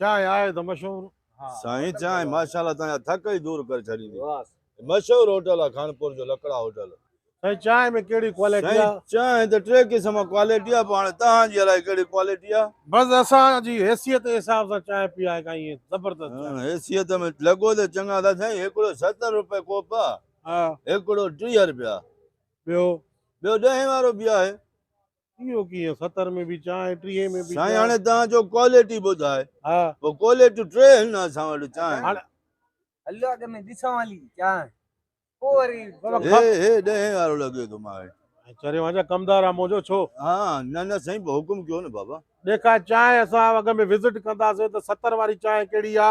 چانهه آهي ته مشهور. سائين چانهه ماشاءالله تنهنجا ٿڪ ئي دور ڪري ڇڏيندي. مشهور هوٽل آ خانپور جو لڪڙا هوٽل. سائين چانهه ۾ ڪهڙي ڪواليٽي آ؟ سائين چانهه ته ٽي قسم ڪواليٽي آ پر هاڻي توهان جي الائي ڪهڙي ڪواليٽي آ. بس اسان جي حيثيت جي حساب سان چانهه پيا هيڪا ائين زبردست چانهه. حيثيت ۾ لڳو ته چڱا ٿا سائين هڪڙو ستر روپيه ڪوپ آ هڪڙو ٽيهه روپيا ٻيو. ٻيو ڏهين وارو به آهي اهو ڪيئن ستر ۾ به چانهه ۽ ٽيهين ۾ به سائين چانهه هاڻي توهان چئو ڪواليٽي ٻڌاء ها پوء ڪواليٽيون ٽي آهن اسان وٽ چانهه هاڻي هليو اڳ ۾ ڏسون هلي چانهه پوء وري بابا چئو. هي هي ڏهين وارو لڳي ٿو مان ۽ چريو وان جا ڪمدار آ منهنجو ڇو ها نه نه سائين حڪم ڪيو نه بابا ڏيکار چانهه اسان اڳ ۾ وزٽ ڪنداسين ته ستر واري چانهه ڪهڙي آ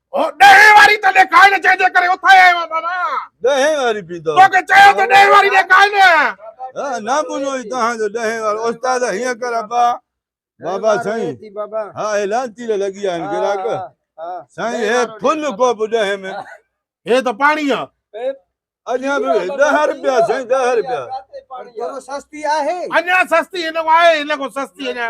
او ڏهين واري ته ڏيکائن جنهن جي ڪري اٿايا آهيون بابا ڏهين واري به ڏيکائن توکي چيو ته ڏهين واري ڏيکائن ها نه بنو هي تهان جو ڏهين وارو استاد هيئن ڪر ابا بابا سائين ها هي لانتي ته لڳي آهن گراڪ سائين هي فل ڪو به ڏهين ۾ هي ته پاڻي آهي اڃا به ڏهه روپيا سائين ڏهه روپيا سستي آهي اڃا سستي هن کان آهي هن کان سستي اڃا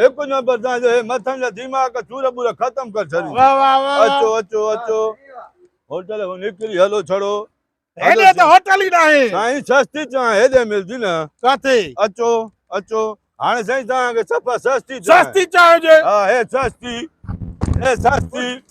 هڪ جو بردان جو هي مٿن جا ديماڪ چور بور ختم ڪر ڇڏي واھ واھ واھ اچو اچو اچو هوٽل هو نڪري هلو ڇڙو هيڏي ته هوٽل ئي ناهي سائين سستي چان هيڏي ملدي نه ڪاٿي اچو اچو هاڻي سائين تان کي سپا سستي سستي چانهه هجي ها هي سستي هي سستي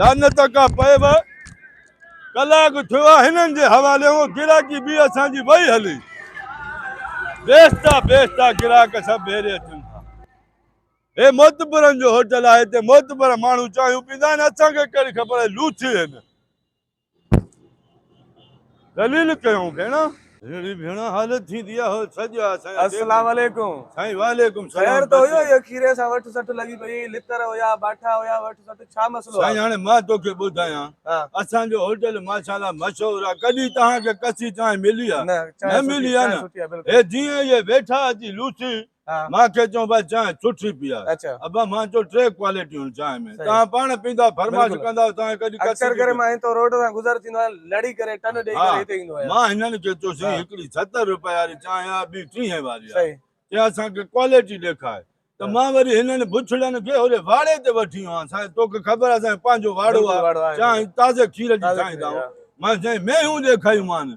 لعنت ڪا پيو ڪلاڪ ٿيو آ هنن جي حوالي هو گراڪي به اسان جي وئي هلي بيستا بيستا گراڪ سڀ ڀيري اچن ٿا هي معتبرن جو هوٽل آهي هتي معتبر ماڻهو چانهيون پيندا آهن اسان کي ڪهڙي خبر آهي لوچي هن دليل ڪيون ڀيڻ. ھينري ڀيڻ حالت ٿيندي آ ھو ڇڄ آ سائين اڳي السلام عليڪم سائين وعليڪم سلام خير ته ھيو يا کيري سان وٺ سٺ لڳي پئي لتر ھيا باٺا ھيا وٺ سٺ ڇا مسئلو آ سائين ھاڻي مان توکي ٻڌايان اسان جو ھوٽل ماشاءالله مشھور آ ڪڏھن توھان کي ڪسي چانھه ملي آ نه ملي آ نه ھي جيئن اھي ويٺا اچي لوسي مان کي چون ڀاء چانهه سٺي پيار ابا مان چيو ٽي ڪوالٽيون چانهه ۾ توهان پاڻ پيندا فرمائش ڪندا توهان کي اڪثر ڪري مان هتو روڊ سان گذر ٿيندو آهيان لڙي ڪري ٽن ڏئي ڪري هتي ايندو آهيان مان هنن کي چيو سائين هڪڙي ستر روپيه واري چانهه آهي ٻي ٽيهين واري آهي چيا اسان کي ڪوالٽي ڏيکار ته مان وري هنن بڇڙن کي هوري واڙي تي وٺي ويو آهيان سائين توکي خبر آهي سائين پنهنجو واڙو آهي چانهه تازي کير جي ٺاهيندا آهيون مان سائين مينهون ڏيکاريون مان